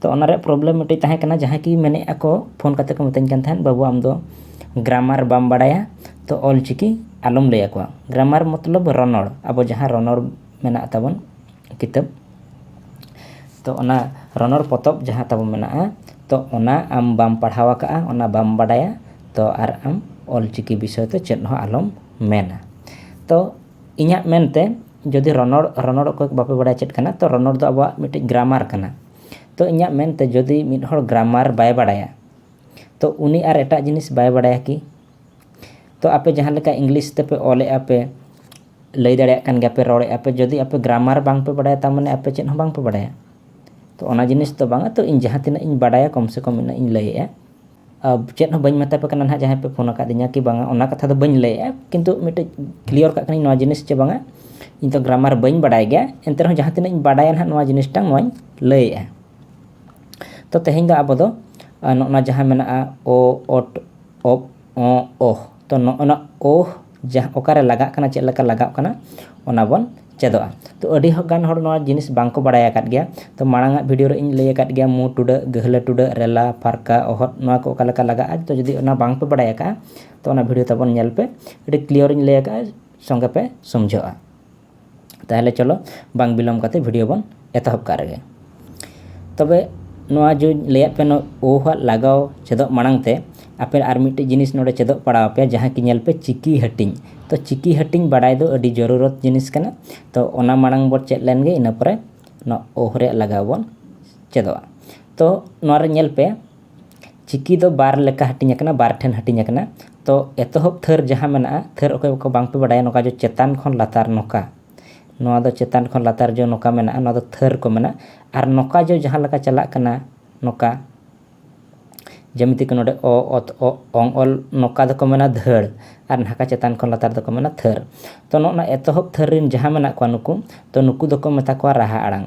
ᱛᱚ ᱚᱱᱟ ᱨᱮᱭᱟᱜ ᱯᱨᱚᱵᱞᱮᱢ ᱢᱤᱫᱴᱮᱱ ᱛᱟᱦᱮᱸ ᱠᱟᱱᱟ ᱡᱟᱦᱟᱸᱭ ᱠᱤ ᱢᱮᱱᱮᱫ ᱟᱠᱚ ᱯᱷᱳᱱ ᱠᱟᱛᱮᱫ ᱠᱚ ᱢᱤᱛᱟᱹᱧ ᱠᱟᱱ ᱛᱟᱦᱮᱸᱫ ᱵᱟᱹᱵᱩ ᱟᱢᱫᱚ ᱜᱨᱟᱢᱟᱨ ᱵᱟᱢ ᱵᱟᱲᱟᱭᱟ ᱛᱚ ᱚᱞ ᱪᱤᱠᱤ ᱟᱞᱚᱢ ᱞᱟᱹᱭ ᱟᱠᱚᱣᱟ ᱜᱨᱟᱢᱟᱨ ᱢᱚᱛᱞᱚᱵ ᱨᱚᱱᱚᱲ ᱟᱵᱚ ᱡᱟᱦᱟᱸ ᱨᱚᱱᱚᱲ ᱢᱮᱱᱟᱜ ᱛᱟᱵᱚᱱ ᱠᱤᱛᱟᱹᱵ ᱛᱚ ᱚᱱᱟ ᱨᱚᱱᱚᱲ ᱯᱚᱛᱚᱵ ᱡᱟᱦᱟᱸ ᱛᱟᱵᱚᱱ ᱢᱮᱱᱟᱜᱼᱟ ᱛᱚ ᱚᱱᱟ ᱟᱢ ᱵᱟᱢ ᱯᱟᱲᱦᱟᱣ ᱟᱠᱟᱫᱼᱟ ᱚᱱᱟ ᱵᱟᱢ ᱵᱟᱲᱟᱭᱟ ᱛᱚ ᱟᱨ ᱟᱢ ᱚᱞ ᱪᱤᱠᱤ ᱵᱤᱥᱚᱭ ᱛᱮ ᱪᱮᱫ ᱦᱚᱸ ᱟᱞᱚᱢ ᱢᱮᱱᱟ ᱛᱚ ᱤᱧᱟᱹᱜ ᱢᱮᱱᱛᱮ ᱡᱩᱫᱤ ᱨᱚᱱᱚᱲ ᱨᱚᱱᱚᱲ ᱚᱠᱚᱭ ᱠᱚ ᱵᱟᱯᱮ ᱵᱟᱲᱟᱭᱟ ᱪᱮᱫ ᱠᱟᱱᱟ ᱛᱚ ᱨᱚᱱᱚᱲ ᱫᱚ ᱟᱵᱚᱣᱟᱜ ᱢᱤᱫᱴᱤᱡ ᱜᱨᱟᱢᱟᱨ ᱠᱟᱱᱟ ᱛᱚ ᱤᱧᱟᱹᱜ ᱢᱮᱱᱛᱮ ᱡᱩᱫᱤ ᱢᱤᱫ ᱦᱚᱲ ᱜᱨᱟᱢᱟᱨ ᱵᱟᱭ ᱵᱟᱲᱟᱭᱟ ᱛᱚ ᱩᱱᱤ ᱟᱨ ᱮᱴᱟᱜ ᱡᱤᱱᱤᱥ ᱵᱟᱭ ᱵᱟᱲᱟᱭᱟ ᱠᱤ ᱛᱚ ᱟᱯᱮ ᱡᱟᱦᱟᱸ ᱞᱮᱠᱟ ᱤᱝᱞᱤᱥ ᱛᱮᱯᱮ ᱚᱞᱮᱫᱼᱟ ᱯᱮ ᱞᱟᱹᱭ ᱫᱟᱲᱮᱭᱟᱜ ᱠᱟᱱ ᱜᱮᱭᱟᱯᱮ ᱨᱚᱲᱮᱫᱼᱟ ᱯᱮ ᱡᱩᱫᱤ ᱟᱯᱮ ᱜᱨᱟᱢᱟᱨ ᱵᱟᱝ ᱯᱮ ᱵᱟᱲᱟᱭᱟ ᱛᱟᱨ ᱢᱟᱱᱮ ᱟᱯᱮ ᱪᱮᱫ ᱦᱚᱸ ᱵᱟᱝ ᱯᱮ ᱵᱟᱲᱟᱭᱟ ᱛᱚ ᱚᱱᱟ ᱡᱤᱱᱤᱥ ᱫᱚ ᱵᱟᱝᱟ ᱛᱚ ᱤᱧ ᱡᱟᱦᱟᱸ ᱛᱤᱱᱟᱹᱜ ᱤᱧ ᱵᱟᱲᱟᱭᱟ ᱠᱚᱢ ᱥᱮ ᱠᱚᱢ ᱤᱱᱟᱹᱜ ᱤᱧ ᱞᱟᱹᱭᱮᱫᱼᱟ ᱪᱮᱫ ᱦᱚᱸ ᱵᱟᱹᱧ ᱢᱮᱛᱟᱯᱮ ᱠᱟᱱᱟ ᱱᱟᱦᱟᱜ ᱡᱟᱦᱟᱸᱭ ᱯᱮ ᱯᱷᱳᱱ ᱟᱠᱟᱫᱤᱧᱟ ᱠᱤ ᱵᱟᱝᱟ ᱚᱱᱟ ᱠᱟᱛᱷᱟ ᱫᱚ ᱵᱟᱹᱧ ᱞᱟᱹᱭᱮᱫᱼᱟ ᱠᱤᱱᱛᱩ ᱢᱤᱫᱴᱮᱡ ᱠᱞᱤᱭᱟᱨ ᱠᱟᱜ ᱠᱟᱹᱱᱟᱹᱧ ᱱᱚᱣᱟ ᱡᱤᱱᱤᱥ ᱪᱮ ᱵᱟᱝᱟ ᱤᱧ ᱫᱚ ᱜᱨᱟᱢᱟᱨ ᱵᱟᱹᱧ ᱵᱟᱰᱟᱭ ᱜᱮᱭᱟ ᱮᱱᱛᱮ ᱨᱮᱦᱚᱸ ᱡᱟᱦᱟᱸ ᱛᱤᱱᱟᱹᱜ ᱤᱧ ᱵᱟᱰᱟᱭᱟ ᱱᱟᱦᱟᱜ ᱱᱚᱣᱟ ᱡᱤᱱᱤᱥᱴᱟ ᱱᱚᱣᱟᱧ ᱞᱟᱹᱭᱮᱫᱼᱟ ᱛᱚ ᱛᱮᱦᱮᱧ ᱫᱚ ᱟᱵᱚ ᱫᱚ ᱱᱚᱜᱼᱚ ᱱᱟ ᱡᱟᱦᱟᱸ ᱢᱮᱱᱟᱜᱼᱟ ᱚ ᱚᱴ ᱚᱯ ᱚᱸᱜ ᱚᱦ ᱛᱚ ᱱᱚᱜᱼᱚ ᱱᱟ ᱚᱦ ᱡᱟᱦᱟᱸ ᱚᱠᱟᱨᱮ ᱞᱟᱜᱟᱜ ᱠᱟᱱᱟ ᱪᱮᱫ ᱞᱮᱠᱟ ᱞᱟᱜᱟᱜ ᱠᱟᱱᱟ ᱚᱱᱟ ᱵᱚᱱ ᱪᱮᱫᱚᱜᱼᱟ ᱛᱚ ᱟᱹᱰᱤ ᱜᱟᱱ ᱦᱚᱲ ᱱᱚᱣᱟ ᱡᱤᱱᱤᱥ ᱵᱟᱝᱠᱚ ᱵᱟᱲᱟᱭ ᱟᱠᱟᱫ ᱜᱮᱭᱟ ᱛᱚ ᱢᱟᱲᱟᱝ ᱟᱜ ᱵᱷᱤᱰᱭᱳ ᱨᱮ ᱤᱧ ᱞᱟᱹᱭ ᱟᱠᱟᱫ ᱜᱮᱭᱟ ᱢᱩ ᱴᱩᱰᱟᱹᱜ ᱜᱟᱹᱦᱞᱟᱹ ᱴᱩᱰᱟᱹᱜ ᱨᱮᱞᱟ ᱯᱷᱟᱨᱠᱟ ᱚᱦᱚᱫ ᱱᱚᱣᱟ ᱠᱚ ᱚᱠᱟ ᱞᱮᱠᱟ ᱞᱟᱜᱟᱜᱼᱟ ᱛᱚ ᱡᱩᱫᱤ ᱚᱱᱟ ᱵᱟᱝᱯᱮ ᱵᱟᱲᱟᱭ ᱟᱠᱟᱫᱼᱟ ᱛᱚ ᱚᱱᱟ ᱵᱷᱤᱰᱭᱳ ᱛᱟᱵᱚᱱ ᱧᱮᱞ ᱯᱮ ᱟᱹᱰᱤ ᱠᱞᱤᱭᱟᱨ ᱤᱧ ᱞᱟᱹᱭ ᱟᱠᱟᱫᱼᱟ ᱥᱚᱸᱜᱮ ᱯᱮ ᱥᱚᱢᱡᱷᱟᱹᱜᱼᱟ ᱛᱟᱦᱚᱞᱮ ᱪᱚᱞᱚ ᱵᱟᱝ ᱵᱤᱞᱚᱢ ᱠᱟᱛᱮ ᱵᱷᱤᱰᱤᱭᱳ ᱵᱚᱱ ᱮᱛᱚᱦᱚᱵ ᱠᱟᱜ ᱨᱮᱜᱮ ᱛᱚᱵᱮ ᱱᱚᱣᱟ ᱡᱮᱧ ᱞᱟᱹᱭᱟᱫ ᱯᱮ ᱱᱚᱣᱟ ᱳ ᱟᱜ ᱞᱟᱜᱟᱣ ᱪᱮᱫᱚᱜ ᱢᱟᱲᱟᱝ ᱛᱮ ᱟᱯᱮ ᱟᱨ ᱢᱤᱫᱴᱮᱡ ᱡᱤᱱᱤᱥ ᱱᱚᱰᱮ ᱪᱮᱫᱚᱜ ᱯᱟᱲᱟᱣ ᱟᱯᱮ ᱡᱟᱦᱟᱸ ᱠᱤ ᱧᱮᱞ ᱯᱮ ᱪᱤᱠᱤ ᱦᱟᱹᱴᱤᱧ ᱛᱚ ᱪᱤᱠᱤ ᱦᱟᱹᱴᱤᱧ ᱵᱟᱰᱟᱭ ᱫᱚ ᱟᱹᱰᱤ ᱡᱚᱨᱩᱨᱚᱛ ᱡᱤᱱᱤᱥ ᱠᱟᱱᱟ ᱛᱚ ᱚᱱᱟ ᱢᱟᱲᱟᱝ ᱵᱚᱱ ᱪᱮᱫ ᱞᱮᱱ ᱜᱮ ᱤᱱᱟᱹ ᱯᱚᱨᱮ ᱱᱚᱣᱟ ᱳ ᱨᱮᱭᱟᱜ ᱞᱟᱜᱟᱣ ᱵᱚᱱ ᱪᱮᱫᱚᱜᱼᱟ ᱛᱚ ᱱᱚᱣᱟ ᱨᱮ ᱧᱮᱞ ᱯᱮ ᱪᱤᱠᱤ ᱫᱚ ᱵᱟᱨ ᱞᱮᱠᱟ ᱦᱟᱹᱴᱤᱧ ᱟᱠᱟᱱᱟ ᱵᱟᱨ ᱴᱷᱮᱱ ᱦᱟᱹᱴᱤᱧ ᱟᱠᱟᱱᱟ ᱛᱚ ᱮᱛᱚᱦᱚᱵ ᱛᱷᱟᱹᱨ ᱡᱟᱦᱟᱸ ᱢᱮᱱᱟᱜᱼᱟ ᱛᱷᱟᱹᱨ ᱚᱠᱚᱭ ᱠᱚ ᱵᱟᱝ ᱯᱮ ᱵᱟᱰᱟᱭᱟ ᱱᱚᱝᱠᱟ ᱡᱮ ᱪᱮᱛᱟᱱ ᱠᱷᱚᱱ ᱞᱟᱛᱟᱨ ᱱᱚᱝᱠᱟ ᱱᱚᱣᱟ ᱫᱚ ᱪᱮᱛᱟᱱ ᱠᱷᱚᱱ ᱞᱟᱛᱟᱨ ᱡᱚᱜ ᱱᱚᱝᱠᱟ ᱢᱮᱱᱟᱜᱼᱟ ᱱᱚᱣᱟ ᱫᱚ ᱛᱷᱟᱹᱨ ᱠᱚ ᱢᱮᱱᱟ ᱟᱨ ᱱᱚᱝᱠᱟ ᱡᱚᱜ ᱡᱟᱦᱟᱸ ᱞᱮᱠᱟ ᱪᱟᱞᱟᱜ ᱠᱟᱱᱟ ᱱᱚᱝᱠᱟ ᱡᱮᱢᱤᱛᱤ ᱠᱤ ᱱᱚᱰᱮ ᱚ ᱚᱛ ᱚ ᱚᱝ ᱚᱞ ᱱᱚᱝᱠᱟ ᱫᱚᱠᱚ ᱢᱮᱱᱟ ᱫᱷᱟᱹᱲ ᱟᱨ ᱱᱟᱝᱠᱟ ᱪᱮᱛᱟᱱ ᱠᱷᱚᱱ ᱞᱟᱛᱟᱨ ᱫᱚᱠᱚ ᱢᱮᱱᱟ ᱛᱷᱟᱹᱨ ᱛᱚ ᱱᱚᱜᱼᱚ ᱱᱚᱣᱟ ᱮᱛᱚᱦᱚᱵ ᱛᱷᱟᱹᱨ ᱨᱮᱱ ᱡᱟᱦᱟᱸ ᱢᱮᱱᱟᱜ ᱠᱚᱣᱟ ᱱᱩᱠᱩ ᱛᱚ ᱱᱩᱠᱩ ᱫᱚᱠᱚ ᱢᱮᱛᱟ ᱠᱚᱣᱟ ᱨᱟᱦᱟ ᱟᱲᱟᱝ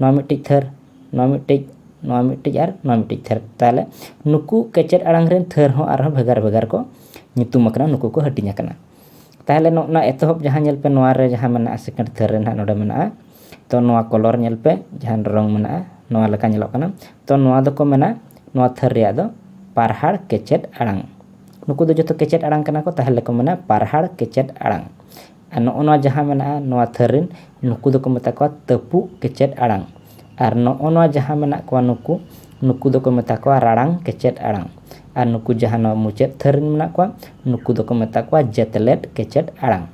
ᱱᱚᱣᱟ ᱢᱤᱫᱴᱤᱡ ᱛᱷᱟᱹᱨ ᱱᱚᱣᱟ ᱢᱤᱫᱴᱤᱡ ᱱᱚᱣᱟ ᱢᱤᱫᱴᱤᱡ ᱟᱨ ᱱᱚᱣᱟ ᱢᱤᱫᱴᱤᱡ ᱛᱷᱟᱹᱨ ᱛᱟᱦᱚᱞᱮ ᱱᱩᱠᱩ ᱠᱮᱪᱮᱫ ᱟᱲᱟᱝ ᱨᱮᱱ ᱛᱷᱟᱹᱨ ᱦᱚᱸ ᱟᱨᱦᱚᱸ ᱵᱷᱮᱜᱟᱨ ᱵᱷᱮᱜᱟᱨ ᱠᱚ ᱧᱩᱛᱩᱢ ᱟᱠᱟᱱᱟ ᱱᱩᱠᱩ ᱠᱚ ᱦᱟᱹᱴᱤᱧ ᱟᱠᱟᱱᱟ ᱛᱟᱦᱚᱞᱮ ᱱᱚᱜᱼᱚ ᱱᱚᱣᱟ ᱮᱛᱚᱦᱚᱵ ᱡᱟᱦᱟᱸ ᱧᱮᱞ ᱯᱮ ᱱᱚᱣᱟ ᱨᱮ ᱡᱟᱦᱟᱸ ᱢᱮᱱᱟᱜᱼᱟ ᱥᱮᱠᱮᱱᱰ ᱛᱷᱟᱹᱨ ᱨᱮ ᱱᱟᱦᱟᱜ ᱱᱚᱰᱮ ᱢᱮᱱᱟᱜᱼᱟ ᱛᱚ ᱱᱚᱣᱟ ᱠᱚᱞᱚᱨ ᱧᱮᱞ ᱯᱮ ᱡᱟᱦᱟᱸ ᱨᱚᱝ ᱢᱮᱱᱟᱜᱼᱟ ᱱᱚᱣᱟ ᱞᱮᱠᱟ ᱧᱮᱞᱚᱜ ᱠᱟᱱᱟ ᱛᱚ ᱱᱚᱣᱟ ᱫᱚᱠᱚ ᱢᱮᱱᱟ ᱱᱚᱣᱟ ᱛᱷᱟᱹᱨ ᱨᱮᱭᱟᱜ ᱫᱚ ᱯᱟᱨᱦᱟᱲ ᱠᱮᱪᱮᱫ ᱟᱲᱟᱝ ᱱᱩᱠᱩ ᱫᱚ ᱡᱚᱛᱚ ᱠᱮᱪᱮᱫ ᱟᱲᱟᱝ ᱠᱟᱱᱟ ᱠᱚ ᱛᱟᱦᱚᱞᱮ ᱠᱚ ᱢᱮᱱᱟ ᱯᱟᱨᱦᱟᱲ ᱠᱮᱪᱮᱫ ᱟᱲᱟᱝ ᱟᱨ ᱱᱚᱜᱼᱚ ᱱᱚᱣᱟ ᱡᱟᱦᱟᱸ ᱢᱮᱱᱟᱜᱼᱟ ᱱᱚᱣᱟ ᱛᱷᱟᱹᱨ ᱨᱮᱱ ᱱᱩᱠᱩ ᱫᱚᱠᱚ ᱢᱮᱛᱟ ᱠᱚᱣᱟ ᱛᱟᱹᱯᱩᱜ ᱠᱮᱪᱮᱫ ᱟᱲᱟᱝ ᱟᱨ ᱱᱚᱜᱼᱚ ᱱᱚᱣᱟ ᱡᱟᱦᱟᱸ ᱢᱮᱱᱟᱜ ᱠᱚᱣᱟ ᱱᱩᱠᱩ ᱱᱩᱠᱩ ᱫᱚᱠᱚ ᱢᱮᱛᱟ ᱠᱚᱣᱟ ᱨᱟᱲᱟᱝ ᱠᱮᱪᱮᱫ ᱟᱲᱟᱝ ᱟᱨ ᱱᱩᱠᱩ ᱡᱟᱦᱟᱸ ᱱᱚᱣᱟ ᱢᱩᱪᱟᱹᱫ ᱛᱷᱟᱹᱨ ᱨᱮᱱ ᱢᱮᱱᱟᱜ ᱠᱚᱣᱟ ᱱᱩᱠᱩ ᱫᱚᱠᱚ ᱢᱮᱛᱟ ᱠᱚᱣᱟ ᱡᱮᱛᱮᱞᱮᱫ ᱠᱮᱪᱮᱫ ᱟᱲᱟᱝ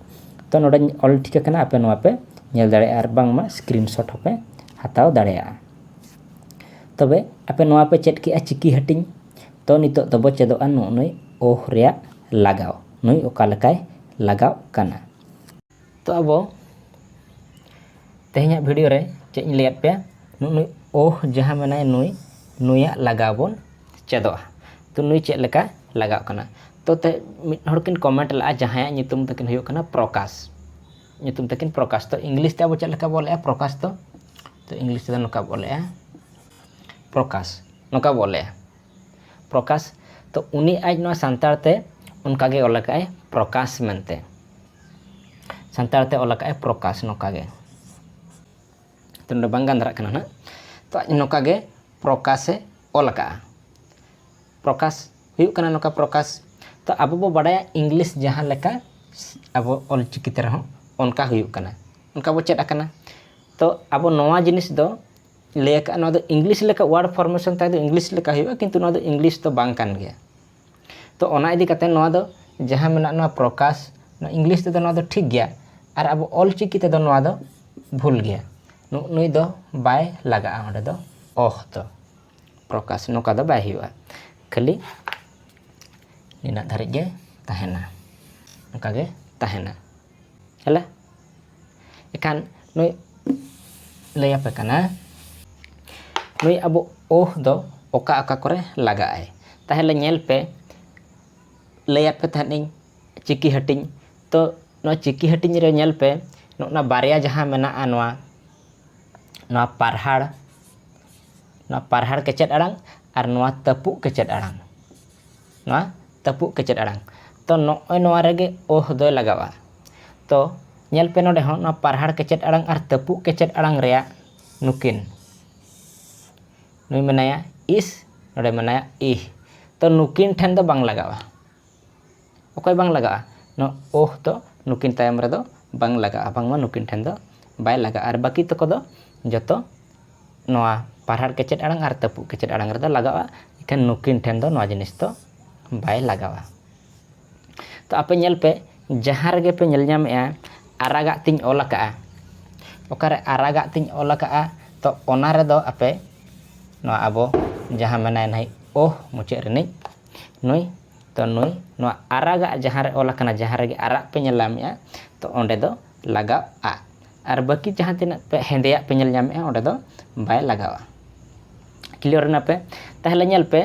ᱛᱚ ᱱᱚᱰᱮᱧ ᱚᱞ ᱴᱷᱤᱠ ᱟᱠᱟᱱᱟ ᱟᱯᱮ ᱱᱚᱣᱟ ᱯᱮ ᱧᱮᱞ ᱫᱟᱲᱮᱭᱟᱜᱼᱟ ᱟᱨ ᱵᱟᱝᱢᱟ ᱥᱠᱨᱤᱱ ᱥᱚᱴ ᱦᱚᱸᱯᱮ ᱦᱟᱛᱟᱣ ᱫᱟᱲᱮᱭᱟᱜᱼᱟ ᱛᱚᱵᱮ ᱟᱯᱮ ᱱᱚᱣᱟ ᱯᱮ ᱪᱮᱫ ᱠᱮᱜᱼᱟ ᱪᱤᱠᱤ ᱦᱟᱹᱴᱤᱧ ᱛᱚ ᱱᱤᱛᱚᱜ ᱫᱚᱵᱚ ᱪᱮᱫᱚᱜᱼᱟ ᱱᱩᱜᱼᱩ ᱱᱩᱭ ᱳᱦ ᱨᱮᱭᱟᱜ ᱞᱟᱜᱟᱣ ᱱᱩᱭ ᱚᱠᱟ ᱞᱮᱠᱟᱭ ᱞᱟᱜᱟᱜ ᱠᱟᱱᱟ ᱛᱚ ᱟᱵᱚ ᱛᱮᱦᱮᱧᱟᱜ ᱵᱷᱤᱰᱤᱭᱳ ᱨᱮ ᱪᱮᱫ ᱤᱧ ᱞᱟᱹᱭᱟᱫ ᱯᱮᱭᱟ ᱱᱩᱭ ᱳᱦ ᱡᱟᱦᱟᱸ ᱢᱮᱱᱟᱭ ᱱᱩᱭ ᱱᱩᱭᱟᱜ ᱞᱟᱜᱟᱣ ᱵᱚᱱ ᱪᱮᱫᱚᱜᱼᱟ ᱛᱚ ᱱᱩᱭ ᱪᱮᱫ ᱞᱮᱠᱟ ᱞᱟᱜᱟᱜ ᱠᱟᱱᱟ ᱛᱚ ᱛᱮ ᱢᱤᱫ ᱦᱚᱲ ᱠᱤᱱ ᱠᱚᱢᱮᱱᱴ ᱞᱟᱜᱼᱟ ᱡᱟᱦᱟᱸᱭᱟᱜ ᱧᱩᱛᱩᱢ ᱛᱟᱹᱠᱤᱱ ᱦᱩᱭᱩᱜ ᱠᱟᱱᱟ ᱯᱨᱚᱠᱟᱥ ᱧᱩᱛᱩᱢ ᱛᱟᱹᱠᱤᱱ ᱯᱨᱚᱠᱟᱥ ᱛᱚ ᱤᱝᱞᱤᱥ ᱛᱮ ᱟᱵᱚ ᱪᱮᱫ ᱞᱮᱠᱟ ᱵᱚᱱ ᱚᱞᱮᱜᱼᱟ ᱯᱨᱚᱠᱟᱥ ᱫᱚ ᱛᱚ ᱤᱝᱞᱤᱥ ᱛᱮᱫᱚ ᱱᱚᱝᱠᱟ ᱵᱚᱱ ᱚᱞᱮᱜᱼᱟ ᱯᱨᱚᱠᱟᱥ ᱱᱚᱝᱠᱟ ᱵᱚᱱ ᱚᱞᱮᱜᱼᱟ ᱯᱨᱚᱠᱟᱥ ᱛᱚ ᱩᱱᱤ ᱟᱡ ᱱᱚᱣᱟ ᱥᱟᱱᱛᱟᱲ ᱛᱮ ᱚᱱᱠᱟ ᱜᱮ ᱚᱞ ᱟᱠᱟᱫᱼᱟᱭ ᱯᱨᱚᱠᱟᱥ ᱢᱮᱱᱛᱮ ᱥᱟᱱᱛᱟᱲ ᱛᱮ ᱚᱞ ᱟᱠᱟᱫᱼᱟᱭ ᱯᱨᱚᱠᱟᱥ ᱱᱚᱝᱠᱟ ᱜᱮ ᱛᱚ ᱱᱚᱰᱮ ᱵᱟᱝ ᱜᱟᱱ ᱫᱷᱟᱨᱟᱜ ᱠᱟᱱᱟ ᱱᱟᱜ ᱛᱚ ᱟᱡ ᱱᱚᱝᱠᱟ ᱜᱮ ᱯᱨᱚᱠᱟᱥᱮ ᱚᱞ ᱟᱠᱟᱫᱼᱟ ᱯᱨᱚᱠᱟᱥ ᱦᱩᱭᱩᱜ ᱠᱟᱱᱟ ᱱᱚᱝᱠᱟ ᱯᱨᱚᱠᱟᱥ ᱛᱚ ᱟᱵᱚ ᱵᱚ ᱵᱟᱰᱟᱭᱟ ᱤᱝᱞᱤᱥ ᱡᱟᱦᱟᱸ ᱞᱮᱠᱟ ᱟᱵᱚ ᱚᱞ ᱪᱤᱠᱤ ᱛᱮ ᱨᱮᱦᱚᱸ ᱚᱱᱠᱟ ᱦᱩᱭᱩᱜ ᱠᱟᱱᱟ ᱚᱱᱠᱟ ᱵᱚ ᱪᱮᱫ ᱟᱠᱟᱱᱟ ᱛᱚ ᱟᱵᱚ ᱱᱚᱣᱟ ᱡᱤᱱᱤᱥ ᱫᱚ ᱞᱟᱹᱭ ᱟᱠᱟᱫᱼᱟ ᱱᱚᱣᱟ ᱫᱚ ᱤᱝᱞᱤᱥ ᱞᱮᱠᱟ ᱣᱟᱨᱰ ᱯᱷᱚᱨᱢᱮᱥᱚᱱ ᱛᱟᱦᱮᱸ ᱫᱚ ᱤᱝᱞᱤᱥ ᱞᱮᱠᱟ ᱦᱩᱭᱩᱜᱼᱟ ᱠᱤᱱᱛᱩ ᱱᱚᱣᱟ ᱫᱚ ᱤᱝᱞᱤᱥ ᱫᱚ ᱵᱟᱝ ᱠᱟᱱ ᱜᱮᱭᱟ ᱛᱚ ᱚᱱᱟ ᱤᱫᱤ ᱠᱟᱛᱮ ᱱᱚᱣᱟ ᱫᱚ ᱡᱟᱦᱟᱸ ᱢᱮᱱᱟᱜ ᱱᱚᱣᱟ ᱯᱨᱚᱠᱟᱥ ᱱᱚᱣᱟ ᱤᱝᱞᱤᱥ ᱛᱮᱫᱚ ᱱᱚᱣᱟ ᱫᱚ ᱴᱷᱤᱠ ᱜᱮᱭᱟ ᱟᱨ ᱟᱵᱚ ᱚᱞ ᱪᱤᱠᱤ ᱛᱮᱫᱚ ᱱᱚᱣᱟ ᱫᱚ ᱵᱷᱩᱞ ᱜᱮᱭᱟ ᱱᱩᱭ ᱫᱚ ᱵᱟᱭ ᱞᱟᱜᱟᱜᱼᱟ ᱚᱸᱰᱮ ᱫᱚ ᱚᱦ ᱫᱚ ᱯᱨᱚᱠᱟᱥ ᱱᱚᱝᱠᱟ ᱫᱚ ᱵᱟᱭ ᱦᱩᱭᱩᱜᱼᱟ ᱠᱷᱟᱹᱞᱤ ᱱᱤᱱᱟᱹᱜ ᱫᱷᱟᱹᱨᱤᱡ ᱜᱮ ᱛᱟᱦᱮᱱᱟ ᱚᱱᱠᱟᱜᱮ ᱛᱟᱦᱮᱱᱟ ହେଲା ଏଖାন ᱱᱩᱭ ᱞᱟᱹᱭᱟᱯᱮ ᱠᱟᱱᱟ ᱱᱩᱭ ᱟᱵᱚ ᱳᱦ ᱫᱚ ᱚᱠᱟ ᱚᱠᱟ ᱠᱚᱨᱮ ᱞᱟᱜᱟᱜ ᱟᱭ ᱛᱟᱦᱚᱞᱮ ᱧᱮᱞ ᱯᱮ ᱞᱟᱹᱭᱟᱯᱮ ᱛᱟᱦᱮᱸᱫ ᱪᱤᱠᱤ ᱦᱟᱹᱴᱤᱧ ᱛᱚ ᱱᱚᱣᱟ ᱪᱤᱠᱤ ᱦᱟᱹᱴᱤᱧ ᱨᱮ ᱧᱮᱞ ᱯᱮ ᱱᱚᱜᱼᱱᱟ ᱵᱟᱨᱭᱟ ᱡᱟᱦᱟᱸ ᱢᱮᱱᱟᱜᱼᱟ ᱱᱚᱣᱟ ᱱᱚᱣᱟ ᱯᱟᱨᱦᱟᱲ ᱱᱚᱣᱟ ᱯᱟᱨᱦᱟᱲ ᱠᱮᱪᱮᱫ ᱟᱲᱟᱝ ᱟᱨ ᱱᱚᱣᱟ ᱛᱟᱹᱯᱩᱜ ᱠᱮᱪᱮᱫ ᱟᱲᱟᱝ ᱱᱚᱣᱟ ᱛᱟᱹᱯᱩᱜ ᱠᱮᱪᱮᱫ ᱟᱲᱟᱝ ᱛᱚ ᱱᱚᱜᱼᱚᱭ ᱱᱚᱣᱟ ᱨᱮᱜᱮ ᱚᱦ ᱫᱚᱭ ᱞᱟᱜᱟᱜᱼᱟ ᱛᱚ ᱧᱮᱞ ᱯᱮ ᱱᱚᱰᱮ ᱦᱚᱸ ᱱᱚᱣᱟ ᱯᱟᱨᱦᱟᱲ ᱠᱮᱪᱮᱫ ᱟᱲᱟᱝ ᱟᱨ ᱛᱟᱹᱯᱩᱜ ᱠᱮᱪᱮᱫ ᱟᱲᱟᱝ ᱨᱮᱭᱟᱜ ᱱᱩᱠᱤᱱ ᱱᱩᱭ ᱢᱮᱱᱟᱭᱟ ᱤᱥ ᱱᱚᱰᱮ ᱢᱮᱱᱟᱭᱟ ᱤᱦ ᱛᱚ ᱱᱩᱠᱤᱱ ᱴᱷᱮᱱ ᱫᱚ ᱵᱟᱝ ᱞᱟᱜᱟᱜᱼᱟ ᱚᱠᱚᱭ ᱵᱟᱝ ᱞᱟᱜᱟᱜᱼᱟ? ᱱᱚᱣᱟ ᱳᱦ ᱫᱚ ᱱᱩᱠᱤᱱ ᱛᱟᱭᱚᱢ ᱨᱮᱫᱚ ᱵᱟᱝ ᱞᱟᱜᱟᱜᱼᱟ, ᱵᱟᱝᱢᱟ ᱱᱩᱠᱤᱱ ᱴᱷᱮᱱ ᱫᱚ ᱵᱟᱭ ᱞᱟᱜᱟᱜᱼᱟ ᱟᱨ ᱵᱟᱹᱠᱤ ᱛᱚᱠᱚ ᱫᱚ ᱡᱚᱛᱚ ᱱᱚᱣᱟ ᱯᱟᱨᱦᱟᱲ ᱠᱮᱪᱮᱫ ᱟᱲᱟᱝ ᱟᱨ ᱛᱟᱹᱯᱩᱜ ᱠᱮᱪᱮᱫ ᱟᱲᱟᱝ ᱨᱮᱫᱚ ᱞᱟᱜᱟᱜᱼᱟ, ᱤᱠᱷᱟᱹᱱ ᱱᱩᱠᱤᱱ ᱴᱷᱮᱱ ᱫᱚ ᱱᱚᱣᱟ ᱡᱤᱱᱤᱥ ᱫᱚ ᱵᱟᱭ ᱞᱟᱜᱟᱜᱼᱟ᱾ ᱛᱚ ᱟᱯᱮ ᱧᱮᱞ ᱯᱮ ᱡᱟᱦᱟᱸ ᱨᱮᱜᱮ ᱯᱮ ᱧᱮᱞ ᱧᱟᱢᱮᱜᱼᱟ ᱟᱨᱟᱜᱟᱜ ᱛᱮᱧ ᱚᱞ ᱟᱠᱟᱜᱼᱟ, ᱚᱠᱟᱨᱮ ᱟᱨᱟᱜᱟᱜ ᱛᱮᱧ ᱚᱞ ᱟᱠᱟᱜᱼᱟ ᱛᱚ ᱚᱱᱟ ᱨᱮᱫᱚ ᱟᱯᱮ ᱱᱚᱣᱟ ᱟᱵᱚ ᱡᱟᱦᱟᱸ ᱢᱮᱱᱟᱭ ᱱᱟᱹᱭ ᱳᱦ ᱢᱩᱪᱟᱹᱫ ᱨᱤᱱᱤᱡ ᱱᱩᱭ ᱛᱚ ᱱᱩᱭ ᱱᱚᱣᱟ ᱟᱨᱟᱜᱟᱜ ᱡᱟᱦᱟᱸ ᱨᱮ ᱚᱞ ᱟᱠᱟᱱᱟ ᱡᱟᱦᱟᱸ ᱨᱮᱜᱮ ᱟᱨᱟᱜ ᱯᱮ ᱧᱮᱞ ᱧᱟᱢᱮᱜᱼᱟ ᱛᱚ ᱚᱸᱰᱮ ᱫᱚ ᱞᱟᱜᱟᱜᱼᱟ ᱟᱨ ᱵᱟᱹᱠᱤ ᱡᱟᱦᱟᱸ ᱛᱤᱱᱟᱹᱜ ᱯᱮ ᱦᱮᱸᱫᱮᱭᱟᱜ ᱯᱮ ᱧᱮᱞ ᱧᱟᱢᱮᱜᱼᱟ ᱚᱸᱰᱮ ᱫᱚ ᱵᱟᱭ ᱞᱟᱜᱟᱜᱼᱟ ᱠᱞᱤᱭᱟᱨ ᱮᱱᱟ ᱯᱮ ᱛᱟᱦᱚᱞᱮ ᱧᱮᱞ ᱯᱮ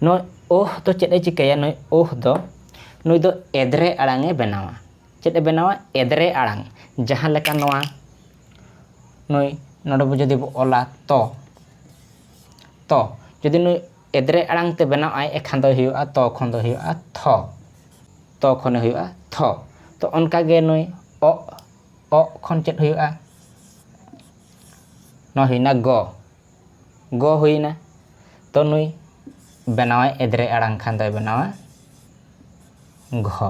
ᱱᱚᱜᱼᱚᱭ ᱳᱦ ᱫᱚ ᱪᱮᱫ ᱮ ᱪᱤᱠᱟᱹᱭᱟ ᱱᱩᱭ ᱳᱦ ᱫᱚ ᱱᱩᱭ ᱫᱚ ᱮᱫᱽᱨᱮ ᱟᱲᱟᱝ ᱮ ᱵᱮᱱᱟᱣᱟ ᱪᱮᱫ ᱮ ᱵᱮᱱᱟᱣᱟ ᱮᱫᱽᱨᱮ ᱟᱲᱟᱝ ᱡᱟᱦᱟᱸ ᱞᱮᱠᱟ ᱱᱚᱣᱟ ᱱᱩᱭ ᱱᱚᱰᱮ ᱵᱚ ᱡᱩᱫᱤ ᱵᱚ ᱚᱞᱟ ᱛᱚ ᱛᱚ ᱡᱩᱫᱤ ᱱᱩᱭ ᱮᱫᱽᱨᱮ ᱟᱲᱟᱝ ᱛᱮ ᱵᱮᱱᱟᱣ ᱟᱭ ᱮ ᱠᱷᱟᱱ ᱫᱚᱭ ᱦᱩᱭᱩᱜᱼᱟ ᱛᱚ ᱠᱷᱚᱱ ᱫᱚ ᱦᱩᱭᱩᱜᱼᱟ ᱛᱷᱚ᱾ ᱛᱚ ᱠᱷᱚᱱᱮ ᱦᱩᱭᱩᱜᱼᱟ ᱛᱷᱚ᱾ ᱛᱚ ᱚᱱᱠᱟ ᱜᱮ ᱱᱩᱭ ᱚᱜ, ᱚᱜ ᱠᱷᱚᱱ ᱪᱮᱫ ᱦᱩᱭᱩᱜᱼᱟ? ᱱᱚᱣᱟ ᱦᱩᱭᱱᱟ ᱜᱚ᱾ ᱜᱚ ᱦᱩᱭᱱᱟ᱾ ᱛᱚ ᱱᱩᱭ ᱵᱮᱱᱟᱣᱟᱭ ᱮᱫᱽᱨᱮ ᱟᱲᱟᱝ ᱠᱷᱟᱱ ᱫᱚᱭ ᱵᱮᱱᱟᱣᱟ ᱜᱷᱚ᱾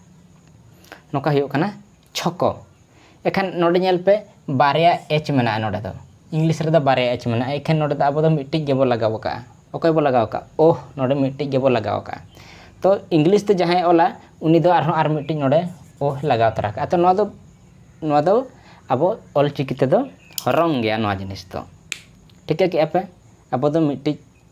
ᱱᱚᱝᱠᱟ ᱦᱩᱭᱩᱜ ᱠᱟᱱᱟ ᱪᱷᱚᱠᱚ ᱮᱠᱷᱟᱱ ᱱᱚᱰᱮ ᱧᱮᱞ ᱯᱮ ᱵᱟᱨᱭᱟ ᱮᱪ ᱢᱮᱱᱟᱜᱼᱟ ᱱᱚᱰᱮ ᱫᱚ ᱤᱝᱞᱤᱥ ᱨᱮᱫᱚ ᱵᱟᱨᱭᱟ ᱮᱪ ᱢᱮᱱᱟᱜᱼᱟ ᱮᱠᱷᱟᱱ ᱱᱚᱰᱮ ᱫᱚ ᱟᱵᱚ ᱫᱚ ᱢᱤᱫᱴᱤᱡ ᱜᱮᱵᱚ ᱞᱟᱜᱟᱣ ᱠᱟᱜᱼᱟ ᱚᱠᱚᱭ ᱵᱚ ᱞᱟᱜᱟᱣ ᱠᱟᱜᱼᱟ ᱳᱦ ᱱᱚᱰᱮ ᱢᱤᱫᱴᱤᱡ ᱜᱮᱵᱚ ᱞᱟᱜᱟᱣ ᱠᱟᱜᱼᱟ ᱛᱚ ᱤᱝᱞᱤᱥ ᱛᱮ ᱡᱟᱦᱟᱸᱭ ᱚᱞᱟ ᱩᱱᱤ ᱫᱚ ᱟᱨᱦᱚᱸ ᱟᱨ ᱢᱤᱫᱴᱤᱡ ᱱᱚᱰᱮ ᱳᱦ ᱞᱟᱜᱟᱣ ᱛᱚᱨᱟ ᱠᱟᱜᱼᱟ ᱛᱚ ᱱᱚᱣᱟ ᱫᱚ ᱱᱚᱣᱟ ᱫᱚ ᱟᱵᱚ ᱚᱞᱪᱤᱠᱤ ᱛᱮᱫᱚ ᱨᱚᱝ ᱜᱮᱭᱟ ᱱᱚᱣᱟ ᱡᱤᱱᱤᱥ ᱫᱚ ᱴᱷᱤᱠᱟᱹ ᱠᱮᱜᱼᱟ ᱯᱮ ᱟᱵᱚ ᱫᱚ ᱢᱤᱫᱴᱤᱡ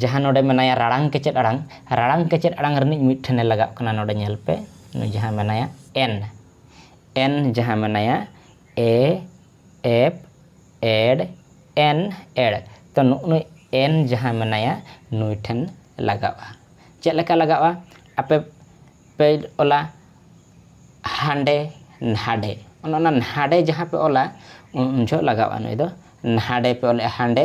ᱡᱟᱦᱟᱸ ᱱᱚᱰᱮ ᱢᱮᱱᱟᱭᱟ ᱨᱟᱲᱟᱝ ᱠᱮᱪᱮᱫ ᱟᱲᱟᱝ ᱨᱟᱲᱟᱝ ᱠᱮᱪᱮᱫ ᱟᱲᱟᱝ ᱨᱤᱱᱤᱡ ᱢᱤᱫ ᱴᱷᱮᱱᱮ ᱞᱟᱜᱟᱜ ᱠᱟᱱᱟ ᱱᱚᱰᱮ ᱧᱮᱞ ᱯᱮ ᱱᱩᱭ ᱡᱟᱦᱟᱸ ᱢᱮᱱᱟᱭᱟ ᱮᱱ ᱮᱱ ᱡᱟᱦᱟᱸ ᱢᱮᱱᱟᱭᱟ ᱮ ᱮᱯ ᱮᱰ ᱮᱱ ᱮᱲ ᱛᱚ ᱱᱩᱜᱼᱱᱩᱭ ᱮᱱ ᱡᱟᱦᱟᱸ ᱢᱮᱱᱟᱭᱟ ᱱᱩᱭ ᱴᱷᱮᱱ ᱞᱟᱜᱟᱜᱼᱟ ᱪᱮᱫ ᱞᱮᱠᱟ ᱞᱟᱜᱟᱜᱼᱟ ᱟᱯᱮ ᱯᱮ ᱚᱞᱟ ᱦᱟᱸᱰᱮ ᱱᱷᱟᱰᱮ ᱚᱱᱮ ᱚᱱᱟ ᱱᱷᱟᱰᱮ ᱡᱟᱦᱟᱸ ᱯᱮ ᱚᱞᱟ ᱩᱱ ᱡᱚᱦᱚᱜ ᱞᱟᱜᱟᱜᱼᱟ ᱱᱩᱭ ᱫᱚ ᱱᱷᱟᱰᱮ ᱯᱮ ᱚᱞᱮᱜᱼᱟ ᱦᱟᱸᱰᱮ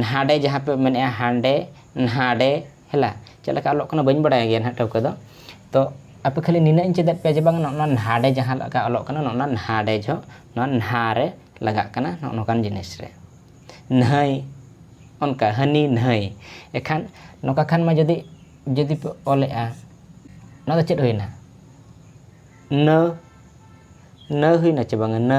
ᱱᱟᱦᱟᱰᱮ ᱡᱟᱦᱟᱸ ᱯᱮ ᱢᱮᱱᱮᱜᱼᱟ ᱦᱟᱸᱰᱮ ᱱᱟᱦᱟᱰᱮ ᱦᱮᱞᱟ ᱪᱮᱫ ᱞᱮᱠᱟ ᱚᱞᱚᱜ ᱠᱟᱱᱟ ᱵᱟᱹᱧ ᱵᱟᱲᱟᱭ ᱜᱮᱭᱟ ᱱᱟᱦᱟᱜ ᱴᱷᱟᱹᱣᱠᱟᱹ ᱫᱚ ᱛᱚ ᱟᱯᱮ ᱠᱷᱟᱹᱞᱤ ᱱᱤᱱᱟᱹᱜ ᱤᱧ ᱪᱮᱫᱮᱫ ᱯᱮᱭᱟ ᱡᱮ ᱵᱟᱝ ᱱᱚᱜᱼᱚ ᱱᱚᱣᱟ ᱱᱟᱦᱟᱰᱮ ᱡᱟᱦᱟᱸ ᱞᱮᱠᱟ ᱚᱞᱚᱜ ᱠᱟᱱᱟ ᱱᱚᱜᱼᱚ ᱱᱚᱣᱟ ᱱᱟᱦᱟᱰᱮ ᱡᱷᱚᱜ ᱱᱚᱣᱟ ᱱᱟᱦᱟ ᱨᱮ ᱞᱟᱜᱟᱜ ᱠᱟᱱᱟ ᱱᱚᱜᱼᱚ ᱱᱚᱝᱠᱟᱱ ᱡᱤᱱᱤᱥ ᱨᱮ ᱱᱟᱹᱭ ᱚᱱᱠᱟ ᱦᱟᱹᱱᱤ ᱱᱟᱹᱭ ᱮᱱᱠᱷᱟᱱ ᱱᱚᱝᱠᱟ ᱠᱷᱟᱱ ᱢᱟ ᱡᱩᱫᱤ ᱡᱩᱫᱤ ᱯᱮ ᱚᱞᱮᱜᱼᱟ ᱱᱚᱣᱟ ᱫᱚ ᱪᱮᱫ ᱦᱩᱭᱱᱟ ᱱᱟᱹ ᱱᱟᱹ ᱦᱩᱭᱱᱟ ᱪᱮ ᱵᱟᱝᱟ ᱱᱟᱹ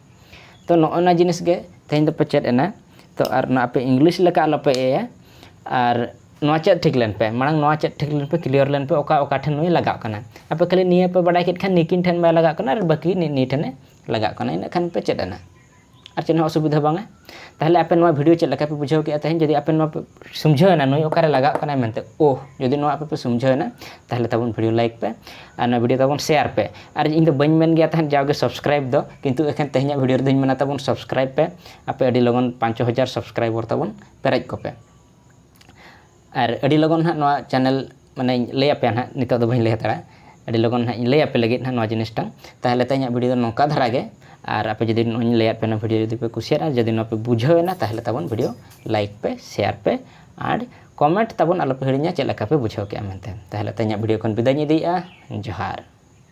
ᱛᱚ ᱱᱚᱜᱼᱚ ᱱᱚᱣᱟ ᱡᱤᱱᱤᱥ ᱜᱮ ᱛᱮᱦᱮᱧ ᱫᱚᱯᱮ ᱪᱮᱫ ᱮᱱᱟ ᱛᱚ ᱟᱨ ᱱᱚᱣᱟ ᱟᱯᱮ ᱤᱝᱞᱤᱥ ᱞᱮᱠᱟ ᱟᱞᱚᱯᱮ ᱮᱭᱟ ᱟᱨ ᱱᱚᱣᱟ ᱪᱮᱫ ᱴᱷᱤᱠ ᱞᱮᱱ ᱯᱮ ᱢᱟᱲᱟᱝ ᱱᱚᱣᱟ ᱪᱮᱫ ᱴᱷᱤᱠ ᱞᱮᱱ ᱯᱮ ᱠᱞᱤᱭᱟᱨ ᱞᱮᱱ ᱯᱮ ᱚᱠᱟ ᱚᱠᱟ ᱴᱷᱮᱱ ᱱᱩᱭ ᱞᱟᱜᱟᱜ ᱠᱟᱱᱟ ᱟᱯᱮ ᱠᱷᱟᱹᱞᱤ ᱱᱤᱭᱟᱹ ᱯᱮ ᱵᱟᱰᱟᱭ ᱠᱮᱫ ᱠᱷᱟᱱ ᱱᱤᱠᱤᱱ ᱴᱷᱮᱱ ᱵᱟᱭ ᱞᱟᱜᱟᱜ ᱠᱟᱱᱟ ᱟᱨ ᱵᱟᱹᱠᱤ ᱱᱤᱭᱟᱹ ᱴᱷᱮᱱᱮ ᱞᱟᱜᱟᱜ ᱠᱟᱱᱟ ᱤᱱᱟᱹᱜ ᱠᱷᱟᱱ ᱯᱮ ᱪᱮᱫ ᱮᱱᱟ ᱟᱨ ᱪᱮᱫ ᱦᱚᱸ ᱚᱥᱩᱵᱤᱫᱷᱟ ᱵᱟᱝᱟ ᱛᱟᱦᱚᱞᱮ ᱟᱯᱮ ᱱᱚᱣᱟ ᱵᱷᱤᱰᱤᱭᱳ ᱪᱮᱫ ᱞᱮᱠᱟ ᱯᱮ ᱵᱩᱡᱷᱟᱹᱣ ᱠᱮᱫᱼᱟ ᱛᱮᱦᱮᱧ ᱡᱩᱫᱤ ᱟᱯᱮ ᱱᱚᱣᱟ ᱯᱮ ᱥᱩᱢᱡᱷᱟᱹᱣᱮᱱᱟ ᱱᱩᱭ ᱚᱠᱟᱨᱮ ᱞᱟᱜᱟᱜ ᱠᱟᱱᱟᱭ ᱢᱮᱱᱛᱮ ᱳᱦ ᱡᱩᱫᱤ ᱱᱚᱣᱟ ᱟᱯᱮ ᱯᱮ ᱥᱩᱢᱡᱷᱟᱹᱣᱮᱱᱟ ᱛᱟᱦᱚᱞᱮ ᱛᱟᱵᱚᱱ ᱵᱷᱤᱰᱤᱭᱳ ᱞᱟᱭᱤᱠ ᱯᱮ ᱟᱨ ᱱᱚᱣᱟ ᱵᱷᱤᱰᱤᱭᱳ ᱛᱟᱵᱚᱱ ᱥᱮᱭᱟᱨ ᱯᱮ ᱟᱨ ᱤᱧ ᱫᱚ ᱵᱟᱹᱧ ᱢᱮᱱ ᱜᱮᱭᱟ ᱛᱟᱦᱮᱸᱫ ᱡᱟᱣᱜᱮ ᱥᱟᱵᱥᱠᱨᱟᱭᱤᱵ ᱫᱚ ᱠᱤᱱᱛᱩ ᱮᱠᱷᱮᱱ ᱛᱮᱦᱮᱧᱟᱜ ᱵᱷᱤᱰᱤᱭᱳ ᱨᱮᱫᱚᱧ ᱢᱮᱱᱟ ᱛᱟᱵᱚᱱ ᱥᱟᱵᱥᱠᱨᱟᱭᱤᱵ ᱯᱮ ᱟᱯᱮ ᱟᱹᱰᱤ ᱞᱚᱜᱚᱱ ᱯᱟᱸᱪ ᱪᱷᱚ ᱦᱟᱡᱟᱨ ᱥᱟᱵᱥᱠᱨᱟᱭᱵᱚᱨ ᱛᱟᱵᱚᱱ ᱯᱮᱨᱮᱡ ᱠᱚᱯᱮ ᱟᱨ ᱟᱹᱰᱤ ᱞᱚᱜᱚᱱ ᱦᱟᱸᱜ ᱱᱚᱣᱟ ᱪᱮᱱᱮᱞ ᱢᱟᱱᱮᱧ ᱞᱟᱹᱭ ᱟᱯᱮᱭᱟ ᱦᱟᱸᱜ ᱱᱤᱛᱚᱜ ᱫᱚ ᱵᱟᱹᱧ ᱞᱟᱹᱭ ᱦᱟᱛᱟᱲᱟ ᱟᱹᱰᱤ ᱞᱚᱜᱚᱱ ᱦᱟᱸᱜ ᱤᱧ ᱞᱟᱹᱭ ᱟᱯᱮ ᱞᱟᱹᱜᱤᱫ ᱦᱟᱸᱜ ᱱᱚᱣᱟ ᱡᱤᱱᱤᱥᱴᱟ ᱛᱟᱦᱚᱞᱮ ᱛᱮᱦᱮᱧᱟᱜ ᱵᱷᱤᱰᱤᱭᱳ ᱫᱚ ᱱᱚᱝᱠᱟ ᱫᱷᱟᱨᱟ ᱜᱮ ᱟᱨ ᱟᱯᱮ ᱡᱩᱫᱤ ᱱᱚᱜᱼᱚᱭᱤᱧ ᱞᱟᱹᱭᱟᱫ ᱯᱮᱭᱟ ᱱᱚᱣᱟ ᱵᱷᱤᱰᱤᱭᱳ ᱡᱩᱫᱤ ᱯᱮ ᱠᱩᱥᱤᱭᱟᱫᱼᱟ ᱡᱩᱫᱤ ᱱᱚᱣᱟ ᱯᱮ ᱵᱩᱡᱷᱟᱹᱣ ᱮᱱᱟ ᱛᱟᱦᱚᱞᱮ ᱛᱟᱵᱚᱱ ᱵᱷᱤᱰᱤᱭᱳ ᱞᱟᱭᱤᱠ ᱯᱮ ᱥᱮᱭᱟᱨ ᱯᱮ ᱟᱨ ᱠᱚᱢᱮᱱᱴ ᱛᱟᱵᱚᱱ ᱟᱞᱚᱯᱮ ᱦᱤᱲᱤᱧᱟ ᱪᱮᱫ ᱞᱮᱠᱟ ᱯᱮ ᱵᱩᱡᱷᱟᱹᱣ ᱠᱮᱫᱼᱟ ᱢᱮᱱᱛᱮ ᱛᱟᱦᱚᱞᱮ ᱛᱮᱦᱮᱧᱟᱜ ᱵᱷᱤᱰᱤᱭᱳ ᱠᱷᱚᱱ ᱵᱤᱫᱟᱹᱭᱤᱧ ᱤᱫᱤᱭᱮᱫᱼᱟ ᱡᱚᱦᱟᱨ